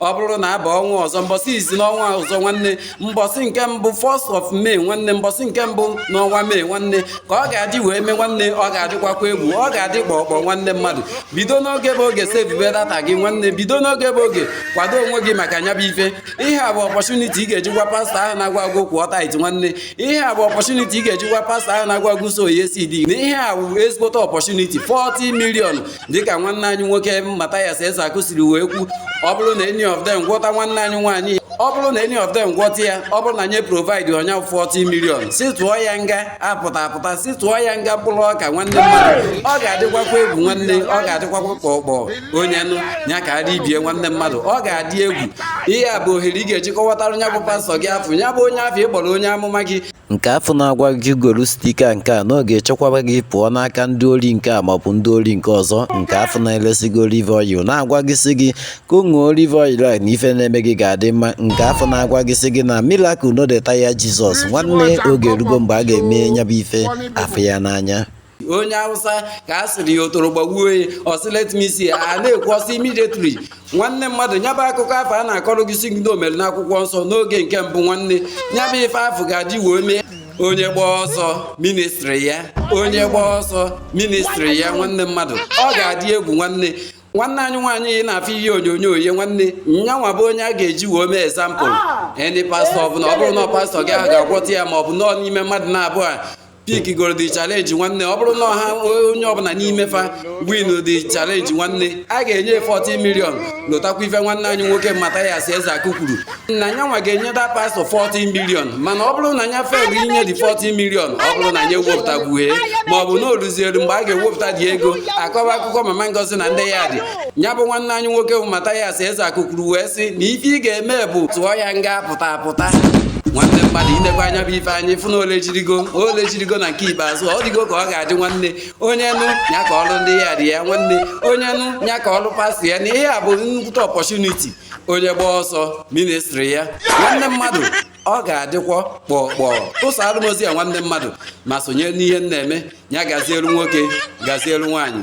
ọ bụrụ na a baa ọnwa ọzọ mbọsị izizi n'ọnwa ọzọ nwanne mbọsị nke mbụ first of May nwanne mbọsị nke mbụ n'ọnwa May nwanne ka ọ ga-adị wee mee nwanne ọ ga-adịkwakwa egwu ọ ga-adị kpọkpọ nwanne mmadụ bido n'oge bụ oge sevube data gị nwanne bido n'oge bụ oge kwado onwe gị maka nya bụ ife ihe a bụ opportunity ị ga-eji nwaa pastọ ahụ na-agwa gị kwụọ tithe nwanne ihe a bụ opportunity ị ga-eji nwaa pastọ ahụ na-agwa gị sow ya seed na ihe a bụ ezigbote opportunity 40 million dịka nwanne anyị nwoke Mathias Ezeaku siri wee kwu ọ bụrụ na any of them gwọta nwanne anyị nwaanyị ọ bụrụ na any of them gwọta ya ọ bụrụ na nye provide onye 40 million sị tụọ ya nga apụta apụta sị tụọ ya nga mkpụrụ ọka nwanne mmadụ ọ ga-adịkwakwa egwu nwanne ọ ga-adịkwakwa ka ọkpọ onye nụ ya kaara ibe ya nwanne mmadụ ọ ga-adị egwu ihe a bụ ohere ị ga-eji kọwatara nya bụ pastọ gị afụ ya bụ onye afụ ị kpọrọ onye amụma gị Nke afụ na-agwa gị golu sticker nke a na ọ ga-echekwaba gị pụọ n'aka ndị ori nke a maọbụ ndị ori nke ọzọ nke afụ na-eresi gị olive oil na-agwa gị sị gị ka ị ṅụọ olive oil a na ife na-eme gị ga-adị mma nke afụ na-agwa gị sị gị na miracle no dey tire Jesus nwanne oge erugo mgbe a ga-eme nyabụ ife a fụ ya n'anya onye Awụsa ka a sịrị ya ọtọrọ gbagbuo ya ọ sị let me see a na-ekwu ọ sị immediately nwanne mmadụ nyaba akụkọ afụ a na-akọrọ gị sị gị na o mere n'akwụkwọ nsọ n'oge nke mbụ nwanne nyaba ife afụ ga-adị wee mee onye gba ọsọ ministri ya onye gba ọsọ ministri ya nwanne mmadụ ọ ga-adị egwu nwanne nwanne anyị nwaanyị ị na-afụ ihe onyonyo ya nwanne nyanwa bụ onye a ga-eji wee mee example ndị ah! pastọ ọbụla ọ bụrụ na pastọ gị ahụ ga-agwọta ya ma ọ bụ nọọ n'ime mmadụ naabụọ pick goro the challenge nwanne ọ bụrụ na ọha onye ọbụla n'ime fa win the challenge nwanne a ga-enye 40 million lotakwa ife nwanne anyị nwoke Mathias Ezeaku kwuru na nyanwa ga-enye that pastọ 40 million mana ọ bụrụ na nya fail inye the 40 million ọ bụrụ na nya ewepụtagbuhe ma ọ bụ na o luzielu mgbe a ga-ewepụta the ego a kọwa akụkọ Mama Ngozi na ndị yard ya bụ nwanne anyị nwoke bụ Mathias Ezeaku kwuru wee sị na ife ị ga-eme bụ tụọ ya nga apụta apụta nwanne mmadụ i nekwaa nya bụ ife anyị fụ na ole jirigo ole jirigo na nke ikpeazụ ọ dịgo ka ọ ga-adị nwanne onye nụ ya kọọrụ ndị yard ya nwanne onye nụ ya kọọrụ pastọ ya na ihe a bụ nnukwu opportunity onye gba ọsọ ministri ya nwanne mmadụ ọ ga-adịkwọ kpọkpọ tụsaalụ m ozi a nwanne mmadụ ma sonye n'ihe m na-eme ya gazielu nwoke gazielu nwaanyị